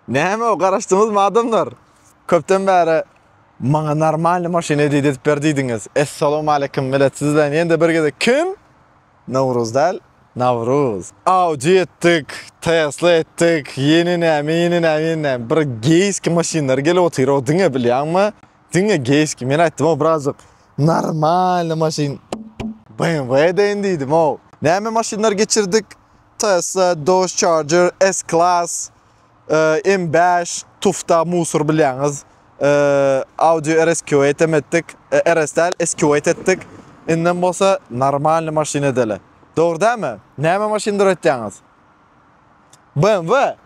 Näme o garaşdyňyzmy adamlar? Köpden bäri maňa normalny maşyn hediýe edip ber diýdiňiz. Essalawmaleýkim millet siz bilen ýene-de bir gezek kim? Nowruz däl, Nawruz. Audi etdik, Tesla etdik, ýene näme, ýene näme, ýene näme. Bir geýski maşynlar gelip otyr-ow diňe bilýäňmi? Diňe geýski. Men aýtdym-ow birazjyk normalny maşyn BMW edeýin diýdim-ow. Näme maşynlar geçirdik? Tesla, Dodge Charger, S-Class, M5, tufta musur bilýäňiz. Audi RS Q8 hem etdik. RS däl, S-Q8 etdik. Indem bolsa normalny maşyn edeli. Dogry dälmi? Näme maşyn döretýäňiz? BMW?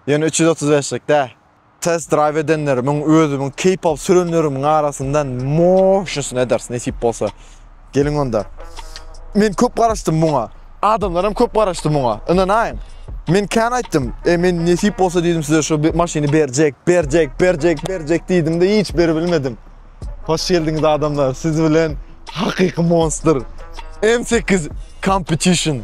Ýöne üç ýüz otuz beşlik däl. Test drive edenlerimiň, özümiň keýp alyp sürenlerimiň arasyndan moşnysyny ederis nesip bolsa. Geliň onda. Men köp garaşdym muňa. Adamlar hem köp garaşdy muňa. Ynanaýyň. Men kän aýtdym. E men nesip bolsa diýdim size şu maşyny berjek, berjek, berjek, berjek diýdim-de hiç beribilmedim. Hoş geldiňiz adamlar. Siz bilen hakyky monster. M8 Competition.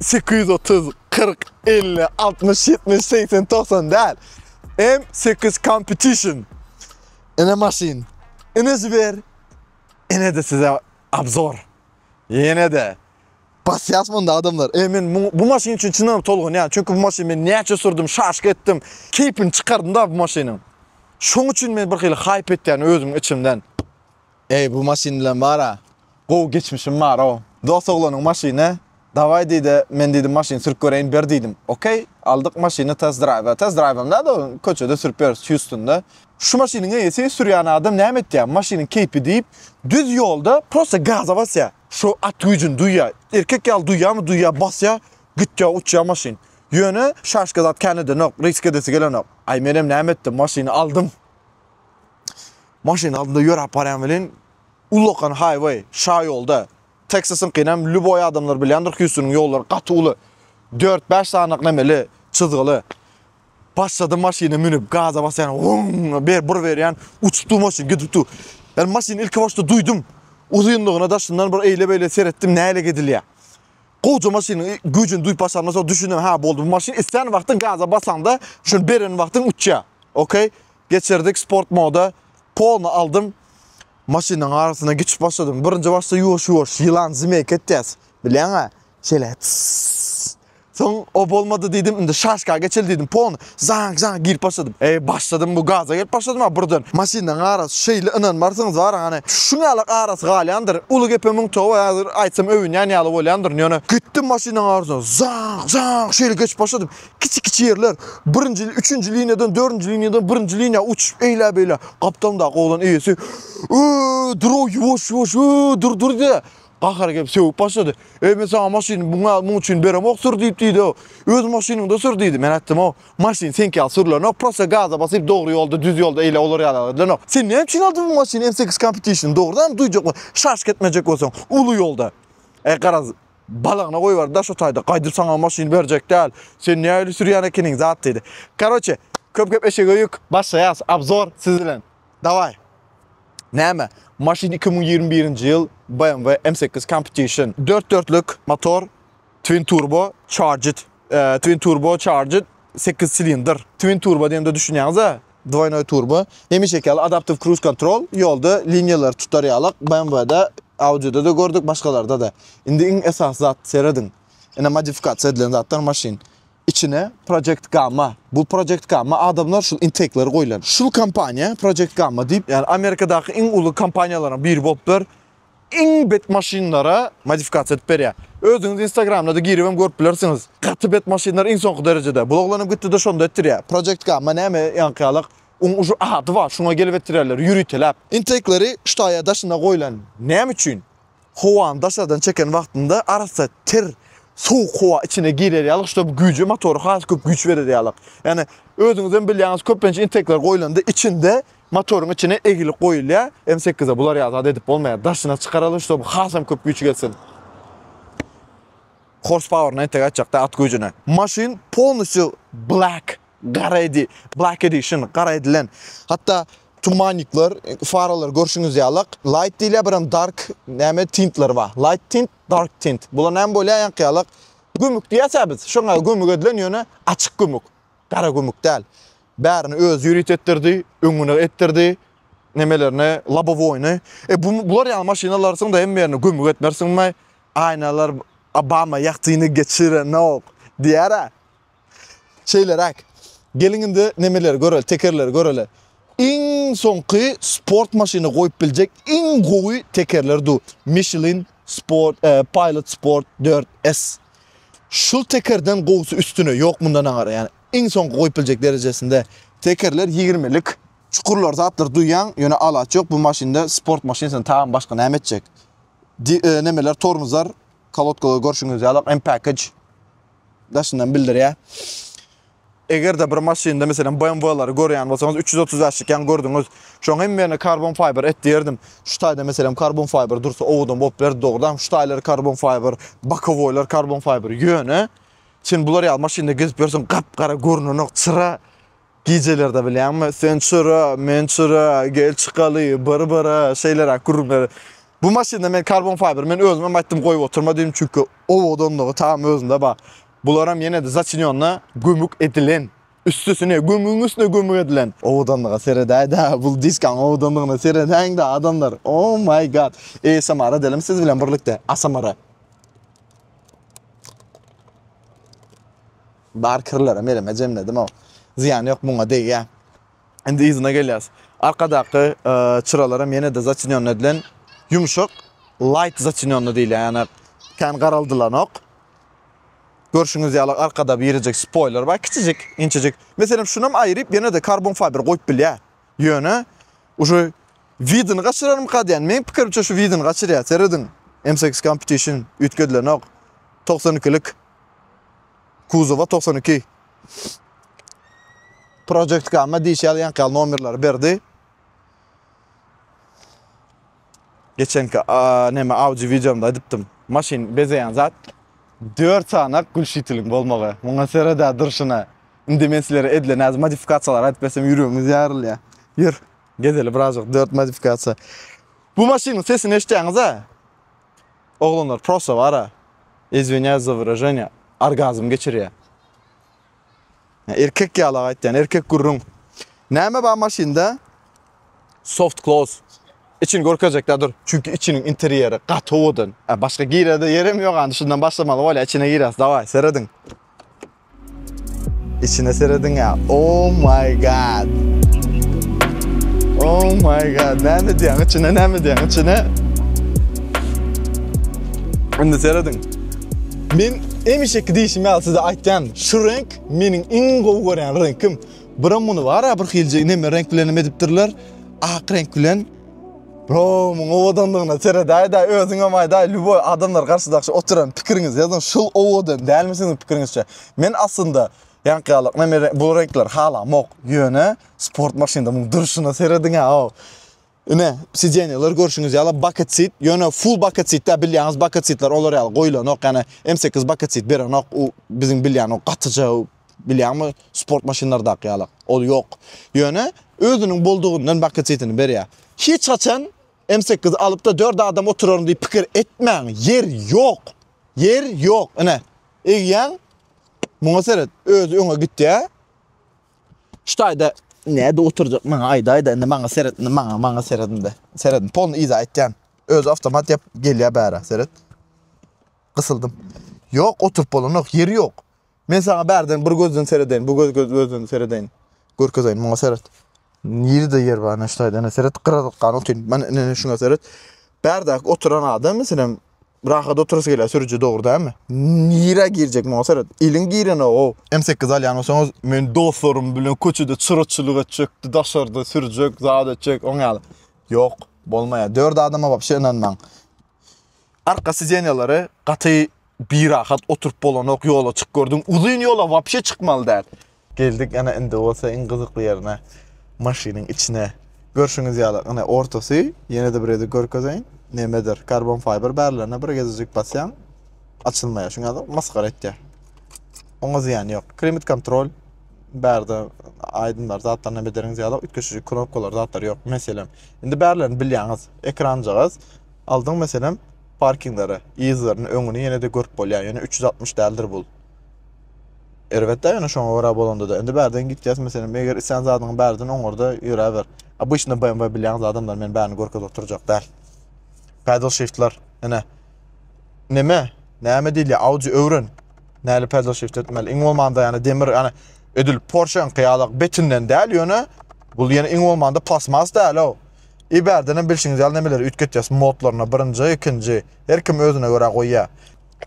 sekiz ýüz otuz, kyrk, elli, altmyş, ýetmiş, segsen, togsan däl. M sekiz Competition. Ine maşyn. Ine jiber. Ine-de size obzor. Ýene-de basýas munda adamlar. E men bu maşyn üçin çynam tolgunýan. Çünki bu maşyn men näçe sürdüm, şaşyk etdim. Keýpini çykardym da bu maşynyň. Şoň üçin men bir hili haýp etýän özüm içimden. Eý bu maşyn bilen bara gowy geçmişim barow. Dos oglanyň maşyny Dawaý diýdi men diýdim maşyn sürüp göreýin ber diýdim. Okey aldyk maşyny test draýwa. Test draýwam däl ol köçede sürüp ýörüs Hýustunda. Şu maşynyň eýesi sürýän adam näme etýär maşynyň keýpi diýip düz ýolda prosta gaza basýar. Şu at güýjüni duýýar. Erkek ýaly duýýamy duýýar basýar gitýär uçýar maşyn. Ýöne şaşka zat kän edenok risk edesi gelenok. Aý menem näme etdim maşyny aldym. Maşyn aldynda ýöräp barýan welin, ullakan haýwaý, şa ýolda, Teksasyňkynam lýuboý adamlar bilýändir, Hýustonyň ýollary gaty uly, dört-bäş sanyk nemeli, çyzgyly. Başladym maşyna münüp, gaza basýan, wrrrňňňýa Geçirdik sport moda polny aldym. Maşynyň arasyna geçip başladym. Birinji başda ýuwaş ýuwaş ýylan zmeýka etýäs. Bilýäňä? Şeýle. Soň o bolmady diýdim. Indi şaşka geçeli diýdim. Pon zang zang girip başladym. Eý başladym bu gaza gelip başladym ha birden. Maşynyň arasy şeýle ynanmarsyňyz bar hany. Şuň ýaly arasy galýandyr. Uly gepe müň toba ýazyr aýtsam öwünýän ýaly bolýandyr. Ýöne gitdim maşynyň arasyna zang zang şeýle geçip başladym. Kiçi-kiçi ýerler, birinji, üçünji liniýadan, dördünji liniýadan birinji liniýa uçup eýlä-beýlä. Gapdalyndaky oglan eýesi, Öö, dur-ow, ýuwaş, ýuwaş, öö, dur, dur diýdi. Gahary gelip sögüp başlady. Eý, men saňa maşyny muňa, muň üçin beremok, sür diýip diýdi-ow. Öz maşynyňda sür diýdi. Men aýtdym-ow, maşyn seňki ýaly sürlenok, prosta gaza basyp, dogry ýolda, düz ýolda eýle olar ýaly gydylanok. Sen näme üçin aldyň bu maşyny, MSX Competition, dogrudanam duýjakmy, şaşk etmejek bolsaň, uly ýolda. Eý, garaz, Balagyna goýber da şu taýda gaýdyp saňa maşyn berjek däl. Sen nähili sürýän ekeniň zat diýdi. Karoçe köp gep eşege ýük başlaýas abzor siz bilen. Daway. Näme maşyn iki müň ýigrimi birinji ýyl BMW M sekiz Competition dört dörtlük motor twin turbo charged twin turbo charged sekiz silindr twin turbo diýende düşünýäňiz a Dwoýnoý turbo, hemişeki ýaly adaptiw kruz kontrol, ýolda liniýalary tutar ýalak, BMW-de, Audi-de-de gördük, başgalarda-da. Indi iň esasy zat, serediň, ine modifikasiýa edilen zatlar maşyn. Içine Project Gamma, bu Project Gamma adamlar şul intekleri goýlan. Şul kompaniýa Project Gamma diýip, ýagny Amerikadaky iň uly kompaniýalaryň biri bolupdyr. iň bet maşynlara modifikasiýa edip berýär. Özüňiz instagramda-da giribem görüp bilersiňiz. Gaty bet maşynlar iň soňky derejede. Bu oglanam gitdi-de şonda etdirýär. Project Gamma näme ýaňky ýalak. Oň uje ady bar, şoňa gelip etdirýärler, ýöriteläp. Intake-leri ştaýa daşyna goýlan. Näme üçin? Howany daşardan çeken wagtynda arassa ter, sowuk howa içine girer ýaly, ştob güýje motora has köp güýç berer ýaly. Ýagny özüňizem bilýäňiz, köplenç intake-ler goýlanda içinde Motoryň içine egilip goýulýar. M8-e bular ýaly zat edip bolmaýar. Daşyna çykaralyň, şonuň hasam köp güýç gelsin. Horspaueryna entek aýtjakda at güýjüne. Maşyn polnusýu black, gara edi, black edition, gara edilen. Hatda tumannikler, faralar görşüňiz ýalak. Light diýilýär, birem dark, näme tintler bar. Light tint, dark tint. Bular näme bolýar ýaňky ýalak. Gümük diýýäs-ä biz. Şoňa gümük edilen ýöne açyk gümük. Garagümük däl. Bärini özi ýörit etdirdi, öňüne etdirdi. Nemelerini, lobowoýny. E bu bular ýaly maşyn alarsyň-da hem ýerine gömük etmersiňmi? Aýnalar Obama ýagtyny geçirenok diýär-ä. Şeýleräk. Geliň indi nemeleri göreli, tekerleri göreli. Iň soňky sport maşyny goýup biljek iň gowy tekerler du. Michelin Sport, e, Pilot Sport 4S. Şul tekerden gowusy üstüne ýok mundan aňara ýani iň soňky goýup biljek derejesinde. Tekerler ýigirmilik çukurlar zatlar duýýaň ýöne alaç ýok bu maşynda sport maşynysyny tagan başga näme etjek. Di nemeler tormuzlar kolodkalar görşüňiz ýaly MPackage daşyndan bildirýä. Eger-de bir maşynda meselem BMW-lary görýän bolsaňyz, üç ýüz otuz bäş çykýan gördüňiz, şoň hemmerini karbon fiber et diýerdim. Şu taýda meselem karbon fiber dursa owadan bolup bilerdi dogrudanam. Şu taýlary karbon fiber, bokowoýlar karbon fiber. Ýöne sen bular ýaly maşynda gezip ýörseň gap-gara görnenok çyra. Gijelerde bilýäňmi, sen çyra, men çyra, gel çykaly bir-bire şeýleräk gürrüňleri. Bu maşynda men karbon fiber men özüm hem aýtdym goýup oturma diýdim, çünki owadanlygy tam özünde bar. Bularam ýene-de začinýonda gömük edilen. Üstesine gömügiň üstüne gömük edilen. Owadanlyga seredäýdä, bul diskaň owadanlygyna seredäýiňdä adamlar. Oh my god. ASMR edelimi siz bilen birlikde. ASMR. Bar kirlerem elime jemledim-ow. Zyýany ýok muňa degýä. Indi yzyna gelýäs. Arkadaky çyralaram ýene-de zaçinýonny edilen ýumşak light zaçinýonny diýilýär. Ýani kän garaldylanok. Görşüňiz ýaly arkada birjik spoiler bar, kiçijik, inçejik. Meselem şunam aýryp ýene-de karbon fiber goýup bilýär. Ýöne uje widini gaçyrarmyka diýýän. Meniň pikirimçe şu widini gaçyrýar. Serediň. M8 Competition üýtgedilenok. 92-lik. kuzowa togsan iki Project Gamma diýşi ýazýanka ýaly nomerleri berdi. Geçenki näme audio videomda aýdypdym. Maşyn bezeýän zat 4 sany gülşitiliň bolmagy. Muňa serede durşuna. Indi men sizlere edilen az modifikasiýalar aýdyp bersem ýüregiňiz ýarylýar. Ýör, gezeli birazjyk 4 modifikasiýa. Bu maşynyň sesini eşitýäňiz-a? Oglanlar prosta bara izwinýaýs za wyraženýa orgazm geçirýä. Erkek ýalak aýtýan erkek gürrüň. Näme bar maşynda? Soft close. Içini görkezjekdä dur. Çünki içiniň interýeri gaty owadan. Başga girerde ýerem ýok andi şundan başlamaly bolýa içine girýas daway serediň. Içine serediň ya. Oh my god. Oh my god. Ne mi diyen içine ne mi diyen içine. Şimdi seredin. Men emişeki diyişim ya size aytyan. Şu renk menin in gov gören renkim. Bura bunu var ya bir hilce ineme renk bilen ediptirler. Ak renk bilen. Bro, muň owadanlygyna seredäýdä, özüňem aýdaý, lýuboý adamlar garşydakşy oturan pikiriňiz ýazyň, şul owadan dälmi siziň pikiriňizçe? Men aslynda ýaňkyýalyk men bu reňkleri halamok, ýöne sport maşynda muň durşuna serediň-ä aw. Ine, sideniýalar görşüňiz ýaly bucket seat, ýöne full bucket seat dä, bilýäňiz bucket seatler olar ýaly goýlanok, ýani M8 bucket seat berenok, u biziň bilýän o gatyja Bilýäňmi, sport maşynlardaky ýalak. Ol ýok. Ýöne özüniň boldugyndan bakyçysyny berýär. Hiç haçan M sekiz alyp-da dört adam oturaryn diýip pikir etmäň. Ýer ýok. Ýer ýok. Ine, egýäň. Muňa seret, özi öňe gitýär. Şu taýda näde oturjak maňa aýdaýda indi maňa seret indi maňa maňa seret indi seret polny yza aýtýan öz awtomat ýap gelýär bära seret gysyldym ýok oturyp bolanok ýeri ýok Men saňa bärden bir gözden seredeýin, bu göz göz özden seredeýin. Görkezeýin, muňa seret. Nirede ýer bar, näştaýda, ene seret, gyradatgan otyn. Men ene şuňa seret. Bärdäki oturan adam, meselem, rahat oturasy gelýär sürüji, dogry dälmi? Nirä girjek, muňa seret. Iliň girenok-ow. M8 alýan bolsaňyz, men dostlarym bilen köçede çyraçylyk etjek, daşarda sürjek, zat etjek, oň ýaly. Ýok, bolmaýar. Dört adama wapşe ynanmaň. arka sidenýalary gaty birahat oturyp bolanok ýola çyk gördüm. Uzyn ýola wapşe çykmaly däl. Geldik ana indi bolsa iň gyzykly ýerine maşynyň içine. Görşüňiz ýaly ine ortasy ýene-de bir gezek görkezeýin. Nemedir karbon fiber bärlerine bir gezejik basýaň açylmaýar. Şuňa da masgara etýär. Oňa zyýan ýok. Klimat kontrol bärde aýdymlar zatlar näme deriňiz ýaly üýtgeşiji knopkalar zatlar ýok. Meselem, indi bärlerini bilýäňiz. Ekranjagaz Aldyň meselem parkinglere yzlaryny öňüni ýenede görüp bolýa ýöne üç ýüz altmyş däldir bul. Erbetdä ýöne şoňa görä bolandada indi bärden gitýäs meselem eger islän zadyňy bärden oňarda ýöräber. Obyçny BMW bilýäňiz adamlar men bärini görkezip oturjak däl. Pedal shiftler ine neme näme diýilýä audi öwren näli pedal shift etmeli iň bolmanda ýani demir ýani edil porscheňki ýalak betinden däl ýöne bul ýene iň bolmanda plasmas däl o. I bärdenem bilşiňiz ýaly nemeleri üýtgetýäs modlaryna birinji ikinji her kim özüne görä goýýa.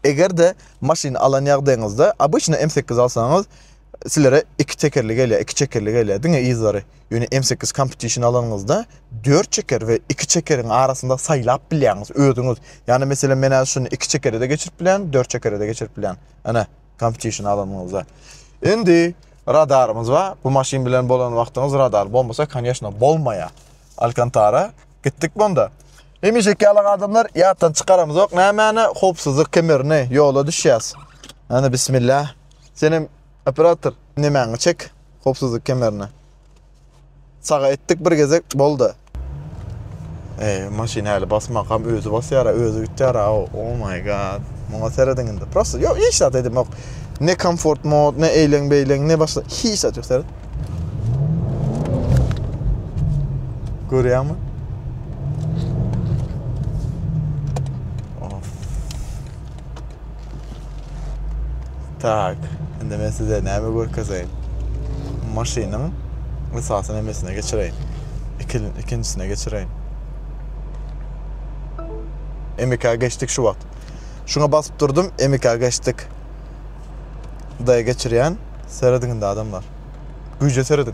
Egerde maşyn alan ýagdaýyňyzda obyçny M sekiz alsaňyz silere iki tekerli gelýä iki çekerli gelýä diňe yzlary ýöne M sekiz kompetişn alanyňyzda dört çeker we iki çekeriň arasynda saýlap bilýäňiz özüňiz ýani meselem menä şuny iki çekerede geçirip bilýän dört çekerede geçirip bilýän ene Kamp çişini alanyňyzda. Indi radarymyz bar. Bu maşyn bilen bolan wagtyňyz radar bolmasa, koneşno, bolmaýar. Alkantara gitdik bunda. Hemişeki ýaly adamlar ýatdan çykaramyzok. Nämäni howpsuzlyk kemerini ýola düşýäs. Ana bismillah. Senem operator nemäňi çek howpsuzlyk kemerini. Çaga etdik bir gezek boldy. Ey, maşyn äli basmak hem özü basyara, özü gitýär. Oh my god. Muňa serediň indi. Prosta ýok, hiç zat edim ýok. Ne komfort mod, ne eýleň beýleň, ne başga hiç zat ýok seret. Görýärmi? Tak, indi men size näme görkezeýin? Maşynyň esasy nemesine geçireýin. Ikil, ikinjisine geçireýin. MK geçdik şu wagt. Şuňa basyp durdum, MK geçdik. Daýa geçirýän, serediň indi adamlar. Güýje serediň.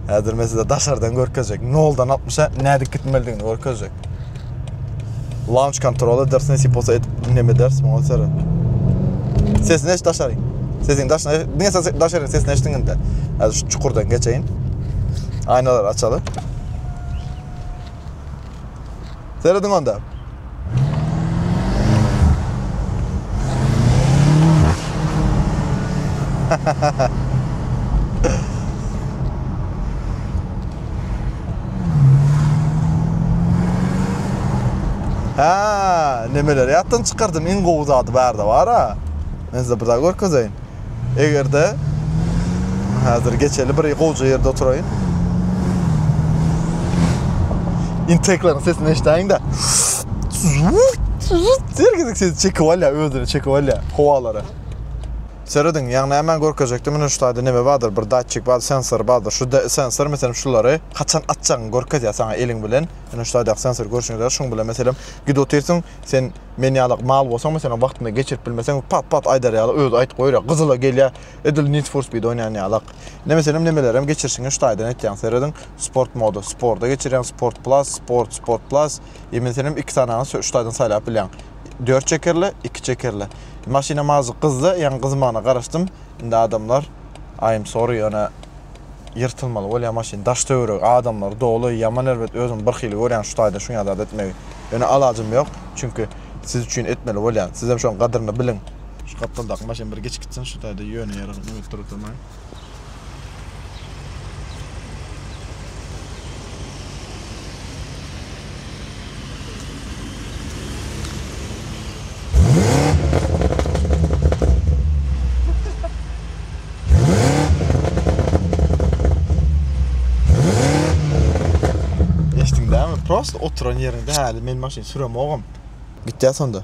Häzir men size daşardan görkezjek. Noldan 60-a nädip gitmelidigini görkezjek. Launch kontrol edersin, siposa edip dinlem edersin, oňa seret. Sesini eş daşary. Sesiň daşyna, diňe ses daşary sesini eşdiň indi. Häzir şu çukurdan geçeýin. Aýnalary açaly. Serediň onda. Ha, nemeler ýatdan çykardym, iň gowy zady bärde bar-a. Men size bir zat görkezeýin. Eger-de häzir geçeli bir gowja ýerde oturaýyn. Intekleriň sesini eşidäýiň-de. Her gezek sesi çekip alýa, özüne çekip alýa howalara. Serediň, ýaňy nämäni görkezjekdi? Mine şu taýda neme bardyr, bir datçik bar, sensor bardyr. Şu sensor meselem şulary haçan açjagyňy görkezýär saňa eliň bilen. Ine şu taýdaky sensor görşüňiz ýaly şuň bilen meselem gidip otyrsyň, sen Men ýalak mal bolsaň meselem wagtynda geçirip bilmeseň pat pat aýdar ýaly özi aýyt goýur ýa gyzyla gelýä edil need for speed oýnaýan ýalak ine meselem nemelerem geçirişiň üç taýdan etýäň serediň sport moda sporda geçirýäň sport plus sport sport plus e meselem iki sanaňy sö üç taýdan saýlap bilýäň dört çekerli iki çekerli maşynam azjyk gyzdy ýaňy gyzmagyna garaşdym indi adamlar aýym sory ýöne Ýyrtylmaly bolýa maşyn daş töweregi adamlary doly ýaman erbet özümi bir hili görýän şu taýdan şuňa zat etmegi ýöne alajym ýok çünki siz üçin etmeli bolýan sizem şoň gadyryny biliň. Şu gapdaldaky maşyn bir geçip gitsin şu taýda ýöne ýere gyzmak edip duruldamaýyn. Eşdiňdämi? Prosta oturan ýeriňde häli men maşyn süremogam. Gitýä sonda.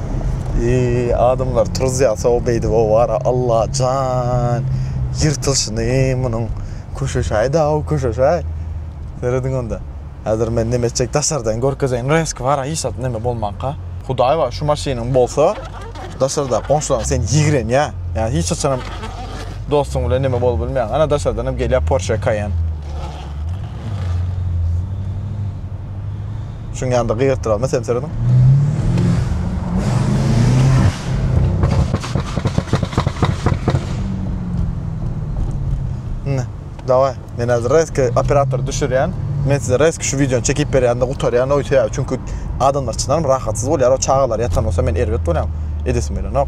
Eee adamlar turuzýa sow beýdip owara Allajan ýyrtylşyny munuň köşeşaý daw köşeşaý serediň onda häzir men neme etjek daşardan görkezeýin reski bara hiç zat neme bolmanka hudaý bar şu maşynyň bolsa daşarda goňşulaň sen ýigrenýä ýa hiç haçanam dostuň bilen neme bolup bilmeýäň ana daşardan hem gelýä porsche kaýen. Şuň ýanda gygyrtdyralma sensorynyň. Ne? Daway. Men hazır reski operator düşürýän. Men size reski şu wideony çekip berýän-de gutarýan oý sebäbi çünki adamlar çynarym rahatsyz bolýar. O çagalar ýatan bolsa men erbet bolýan. Edesim gelenok.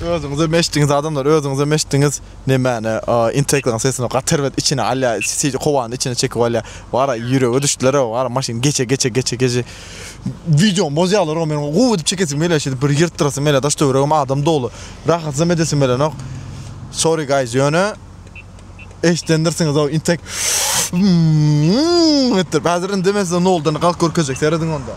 Özüňize meşdiňiz adamlar özüňize meşdiňiz nemäne intelektiň sesini gaty erbet içine alýar sesi howany içine çekip alýar wara ýürege düşdüler wara maşyn geçe geçe geçe geçe wideony bozýarlar o meniň gowy edip çekesim gelýär şeýdip bir ýyrtdyrasym gelýär daş töweregim adam doly rahatsam edesim gelenok sorry guys ýöne Eşdendirsiňiz-ow intek etdirip. Häzir indi men size noldan galk görkezjek. Serediň onda.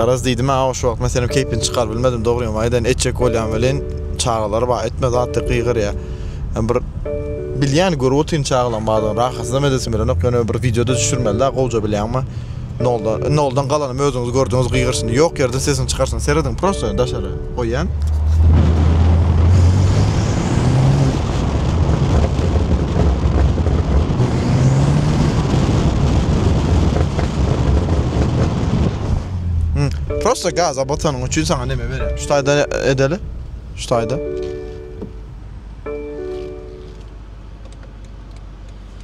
Garaz diýdim-ä, awa şu wagt men seniň keýpiňi çykaryp bilmedim, dogryňam aýdaýyn, etjek bolýan welin, çagalar bar, etme zat diýip gygyrýar. Hem bir bilýän, görüp otyryn çagalaň bardygyny, rahatynam edesim gelenok, ýöne bir wideo-da düşürmeli-dä, gowja bilýäňmi? Noldan, noldan galanymy özüňiz gördüňiz gygyryşyny, ýok ýerden sesiňi çykarsaň, serediň prosta daşary. goýýan. Prosta gaza batanyň üçin saňa neme berýär? Şu taýda edeli. Şu taýda.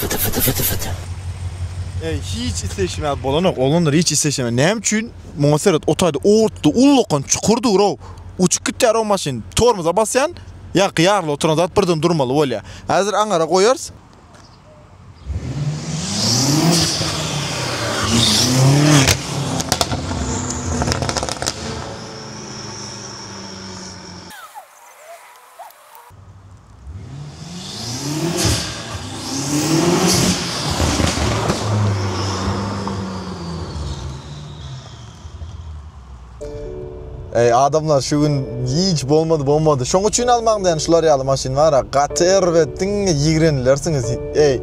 Fyty fyty fyty fyty. Eý, hiç isleşmä bolanok, oglanlar hiç isleşemä. Näme üçin? Muňa seret, o taýda otdy, ullakan çukur dur-ow. Uçup gitýär o maşyn. Tormoza basýan, ýa gyýarly oturan zat birden durmaly bolýa. Häzir aňara goýarys. Eý adamlar şu gün hiç bolmady bolmady. Şoň üçin almaň diýen şular ýaly maşyn bar. Gaty erbet diňe ýigrenlersiňiz. Eý.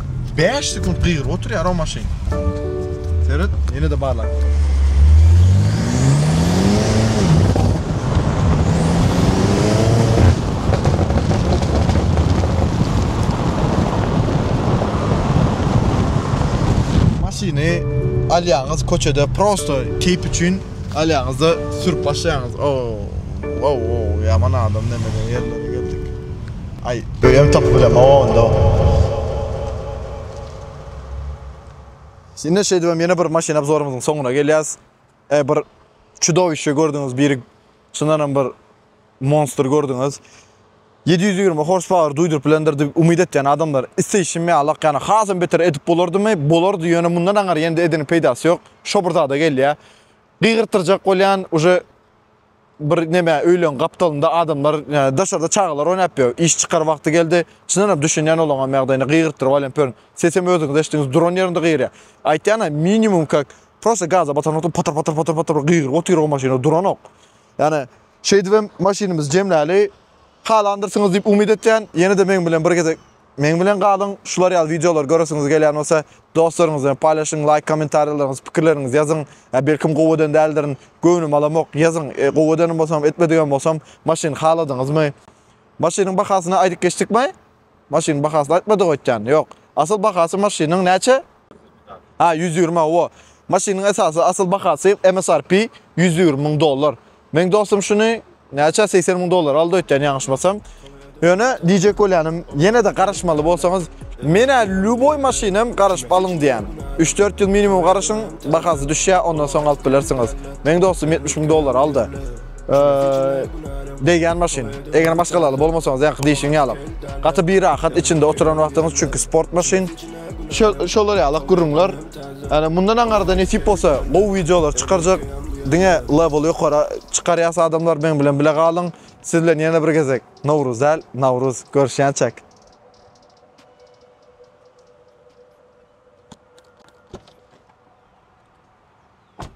Bäş sekunt gygyryp oturýar o maşyn. Seret, ýene-de barlap gör. Maşyny alýaňyz köçede prosto keýp üçin alýaňyz-da sürüp başlaýaňyz. O-o-o, ýaman adam nämeler ýerlere geldik. Aý öýem tapyp bilemok onda. Ine şeýdibem ýene bir maşyn obzorymyzyň soňuna gelýäs. E, bir çudowiще gördüňiz, biri çyndanam bir monstr gördüňiz. 720 horsepower duýduryp bilendir diýip umyt etýän adamlar isleýşim ýalak, ýagny hasam beter edip bolardymy? Bolardy, ýöne mundan aňyr ýene-de edeniň peýdasy ýok. Şo bir zada gelýär. Gygyrtdyrjak bolýan, uje bir neme öýleň gapdalynda adamlar yani daşarda çagalar oynap ýör. Iş çykar wagty geldi. Çyndan hem düşünýän olaňa ýagdaýyna gygyrtdyryp alýan pörün. Sesem özüňiz eşdiňiz duran ýerinde gygyrýar. Aýtýana minimum kak prosta gaza batan wagty patar patar patar patar gygyryp otyr o maşyna duranok. Yani şeýdibem maşynymyzy jemläli. Halandyrsňyz diýip umyt etýän. Ýene-de meň bilen bir gezek Meň bilen galyň, şular ýaly wideolar göresiňiz gelýän bolsa, dostlaryňyz bilen paýlaşyň, laýk, kommentariýalaryňyz, pikirleriňiz ýazyň. Ýa belkim gowy eden däldirin, göwnüm alamok, ýazyň, gowy edenim bolsam, etmedigem bolsam, maşyny haladyňyzmy? Maşynyň bahasyny aýdyp geçdikmi? Maşynyň bahasyny aýtmadyk öýtýän, ýok. Asyl bahasy maşynyň näçe? Ha, ýüz ýigrimi, hawa. Maşynyň esasy asyl bahasy MSRP ýüz ýigrimi müň dollar. Meň dostum şuny näçe 80 müň dollar aldy ötden ýaňyşmasam. Ýöne diýjek bolýanym, ýene de garaşmaly bolsaňyz, menä lüboý maşynam garaşyp alyň diýýän. 3-4 ýyl minimum garaşyň, bahasy düşýär, ondan soň alyp bilersiňiz. Meň dostum 70 müň dollar aldy. Degýän maşyn. Eger maşgalaly bolmasaňyz, ýaňky diýşiň ýaly. Gaty birahat içinde oturan wagtyňyz, çünki sport maşyn. Şolar ýaly gürrüňler. Ýani mundan aňyrda nesip bolsa gowy wideolar çykarjak diňe level ýokara çykarýas adamlar meň bilen bile galyň siz bilen ýene bir gezek Nowruz däl Nawruz görüşýänçäk.